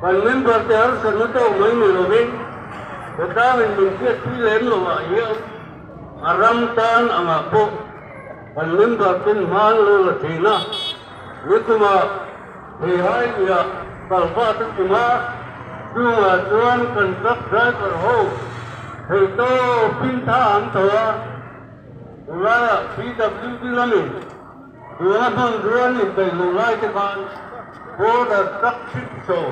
Kan member te harsa na tawh mai ni lovin hetaang in min chhiatpui lem lo ah hian a ram tan ang ah pawh kan member ten hmaan lo la thin a, nikum a Beihai Lia kal va ta chim a, chung ah chuan kan truck driver ho thei tawpin tha an tho a, chulai ah PWD lam in. Tuna hmun rian inbeih loh lai te khan Border Truck Trickshaw,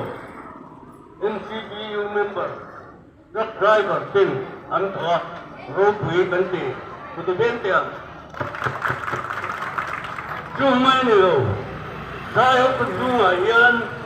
NCBU, member truck driver ten an tho a, ropui kan ti hmutu ber te ang. Chu mai ni lo, Thlai Hawkut chhungah hian.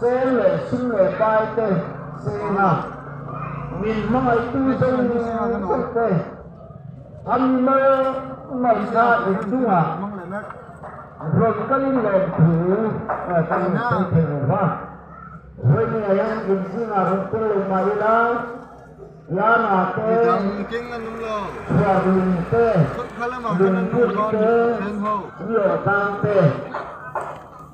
Sel leh hring leh pai te sen a min hmangaitu zawng zawng te an ni maw? Ngaihna in dungah rawn kal in lawm thu eh kan rawn sawi thei lo va. Vawinia hian in zingah rawn tel lo mah ila Yana te, Chhuarlung te, Lungpui te, Niawhlang te,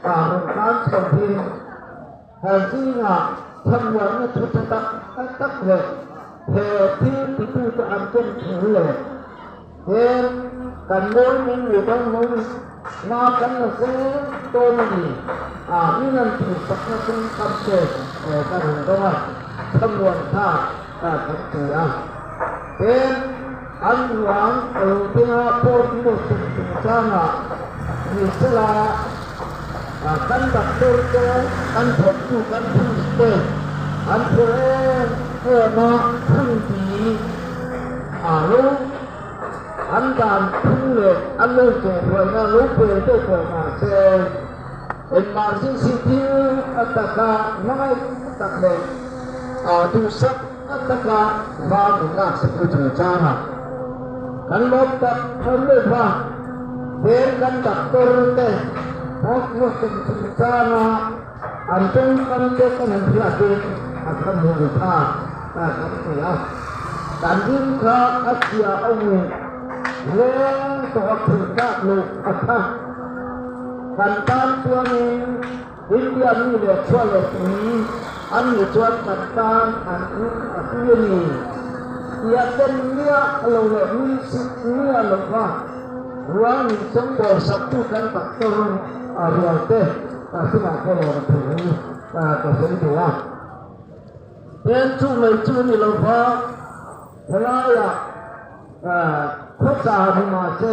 Thahlawm tan chho hi a zingah chhawmluahna thu ta tak ta tak leh he thil titute an ken thin le heng kan mawi meng leh dawn mawi meng na kan la seng dawn a ni a in an tih sakna chu ka hre eh ka ring dawng a chhawmluan tha ka kan ti a heng An ruang Rothenga port hi rawn tum chung changah hmeichhe la kan doctor te kan thawktu kan clinic te an phur em em a phun ti a lo an dan phun leh an lo chawhruaina lo pel tawh pawh mahse emergency thil a taka hmangaih tak leh duhsak Ka taka vang in ngak sak chu chu chang a, kan lawm tak thar mai va, fel kan dak tur te pawt chu tum tum chang a, an tum kam te kan in hriat in a tha ni ri kha ka kan ti a, kan ring kha a chhia awm in hleng tawh a thih tlak loh a tha, kan tan chuan in. India mi leh khua leh mi an ni chuan kan tan an in a hui a ni. Piah ten nia a lo leh min chhit nia a lo va. Rual min chawngbawl sak tu kan doctor a rual te ka sinah khaw lo na thei hi ka sawi thei a. Pen chu mai chu ni lo va, helaiah khua tla ni mah se.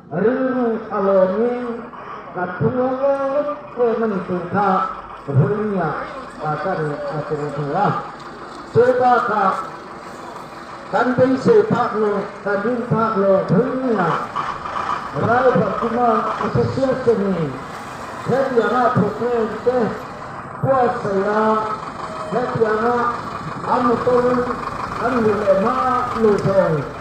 Ring a lawmin ka thung a ngaw ngawt em a ni tih kha Vurmia ah ka rin a keng thei a. Chu bakah kan beisei phak leh kan rin phak leh Vurmia Ralph Kuma Association-in hetianga programme te buatsaih a, hetianga a motor an ri leh hma luh dawn.